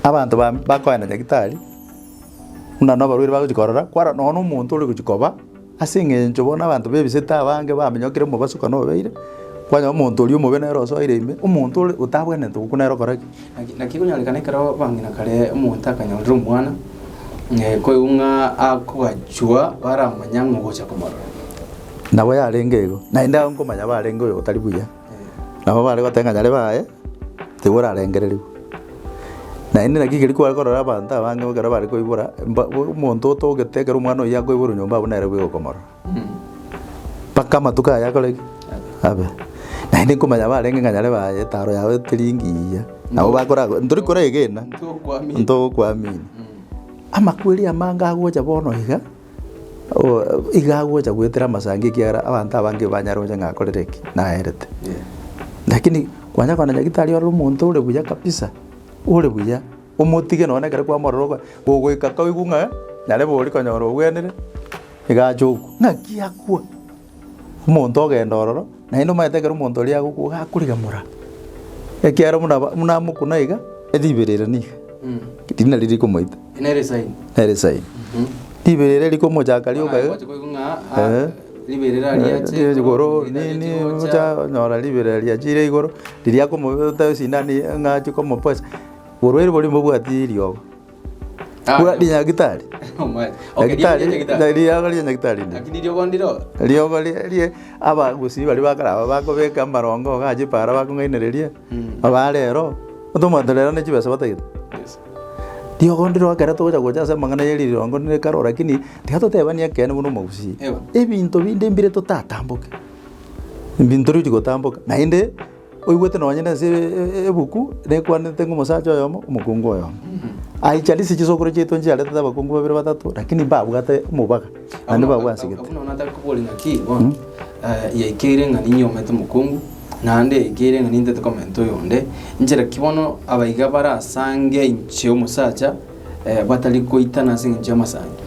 Abanto ba- bakoenda Nyagitari, buna nabarwaire bagochia korora, kwarora nonya nomonto ore gochia koba, ase eng'encho bono abanto bebisete abange bamenyokire omobasuka nobeire, kwanyora omonto oria omobe nere osoire ime, omonto ore otabwenerete gokwa nere okora ki? Naki naki ekonyorekana ekero bang'ina kare omonto akanyorire omwana, koigwa ng'a akogachwa baramanya ng'a ogocha komorora. Nabo yarenge igo, naende aye nkomanya barenge oyo otari buya. Nabo bare goteba ng'a nyare baye nigo orarengererigwe. Naende naki ekerio kware korora abanto abange ekero bare koibora mba omonto otogete ekero omwana oyio akoiborwa nyomba abwo nere bweoka okomorora. Mpaka amatuko aye akore ki? Abe. Naende nkomanya barenge ng'a nyare baye etaro yabo eteri engiya nabo bakora ntori koregena ntogokwamina. Amakweri amange agocha bono iga. iga agocha goetera amasango ekiagera abanto abange banyare gocha ng'a akorire ki? Naerete. Lakini kwanya koona nyagetari ore omonto ore buya kabisa, ore buya, omotige nonye ekero kwamorora ogo ogoika koigwa ng'a narebe oria konyora ogwenire, iga ache okwa. Ng'aki akwa? omonto ogenda ororo, naende omanyete ekero omonto oria agokwa iga akorigemora, ekiagera buna ba buna amokuna iga, eriberera niga riria nari rikomoita. Nere esaini. Nere esaini. Riberera rikomochaka rioka iga. Eeh. Riberera riacha igoro. Riacha igoro nini ocha onyora riberera riachire igoro, riria akomo oteba esindano eye ng'a ache komoposa, orwaire boria mbobwati eriogo. Bwa rinyagitari. Omwene. Okay, Nyagitari. riabu nyagitari. na- Riogo ria nyagitari. ri. Lakini riogo ndiro. Riogo ri- rie abagusii baria bakare aba bakobeka amarongo iga aye para bakong'ainereria. Mm. Aba rero, otomanyete rero ne chibesa batagete. Yes. Riogo ndiro ekero togocha gocha ase amang'ana ye rirongo ne karo lakini tiga totebani ekeene buna omogusii. Ewa. Ebinto binde mbire totatamboke. Ebinto riri gotamboka naende. Oigwete nonye nense ebuku nekwanete ng'a omosacha oyomo omokungu oyomo aichanetie chisokoro chiaito nchiaretete abakungu babere batato lakini mbabwate omobaga naende babwasegete. Buna bono nataka kobori ng'aki bono yaikeire ng'a ninyomete omokungu naende yaikeire ng'a nintete komenta oyonde, nchera ki bono abaiga bare as'ange inche omosacha batari koitana as'engencho y'amasaancho?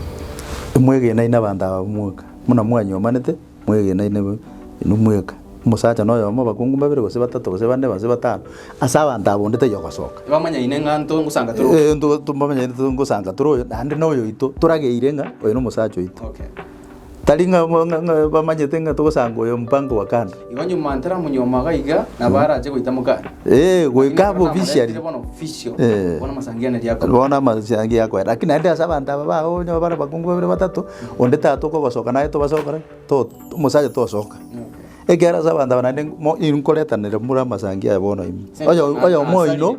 Imwegenai nabaanto aba b'omweka, buna mwanyomanete, Mwegena inwe inwe mweka, omosacha noyomo, abakungu babere gose batato gose bane gose batano ase abanto aba onde taiyo ogosoka. Tibamanyaine ng'a nto ngosanga tore oyo. Ee, nto- tobamanyaine to- ngosanga tore oyo, naende na oyo oito torageire ng'a oyo nomosacha oito. Okay. Tari ng'a bo- ng'a- ng'a bamanyete ng'a togosanga oyo mpango wa kando. Igo nyuma ntaramonyuoma iga iga, nabo arache goita mokane. Ee, goika aba officially. Namoretire bono official. Ee. Bono amasangianeria akorwa. Bono amasangi akoera, lakini naende ase abanto aba bago onye bare abakungu babere batato. Onde taba tokobasoka naye tobasa gokora ki? To omosacha tosoka. Ekiagera ase abanto aba naende mo inkoretanera more amasangi aya bono ime. Oyo oyomo oino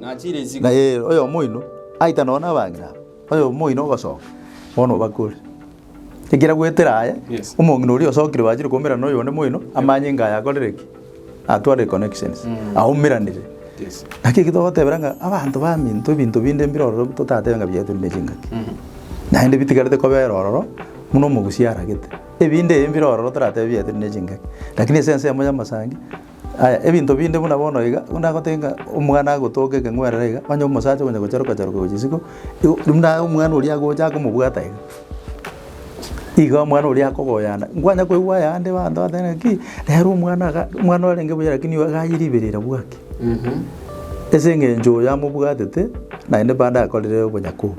na eh oyomo oino aita nonye na abang'ina aba, oyomo oino ogosoka bono obakore. Ekero agoetera aye, omong'ina oria osokire bachire koumera na oyonde moino amanye ng'a aye akorire ki? Atware connections, aumeranire. Naki eki togotebera ng'a abanto baminto ebinto binde mbire ororo totatebe ng'a biaetwe rinde chingaki. Naende bitigarete kobera ororo buna omogusia aragete. Ebinde ebi mbire ororo toratebe biaetwe rinde chingaki. Lakini ase ensemo y'amasangi, aya ebinto binde buna bono iga, buna agoteba ng'a omwana agotoka ekeng'werere iga, onye omosacha okonya gocharuka charuka gochia isiko, igo buna omwana oria agocha akomobwata iga. Igo omwana oria akogoyana, nkwanya koigwa ayande abanto bagoteeba ng'aki, nere omwana iga, omwana orenge buya lakini igo iga aye ribeera ira bwaki. Ase eng'encho oyo amobwatete, naende bande akorire obonyaku obo.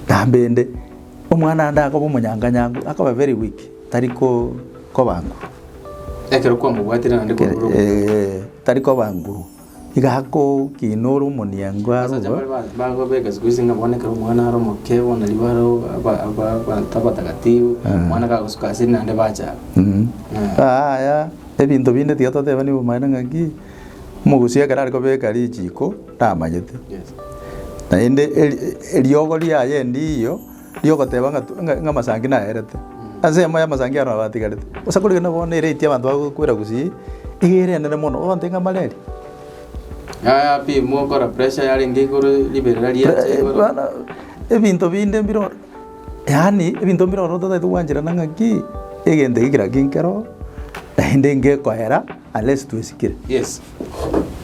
Nambende, omwana ande akoba omonyanga nyangu, akoba very weak, tari ko koba nguru. Ekero kwamobwatire naende kwabora obo. Eeh, tari koba nguru. Igakokinora omoniango arue. Yaya ebinto binde tiga totebani obomaene ng'aki omogusia ekero arikobeka richiko tamanyete. Naende eriogo riaye endiiyo ri'ogoteba ng'a tu- ng'a- ng'amasangi naerete, ase enyoma y'amasangi aro abatigarete. Bosa kori rende bono nere eiti abanto bagokwera gusii, iga ere enene mono, ogonte ng'a malaria. Yaya pi mokora pressure yarenge igoro riberera riacha Pre- igoro. bono ebinto binde mbire oro, yaani ebinto mbire oro totaete gwancherana ng'aki, egento eke kera kinkero, naende ngekoera unless twesikire. Yes.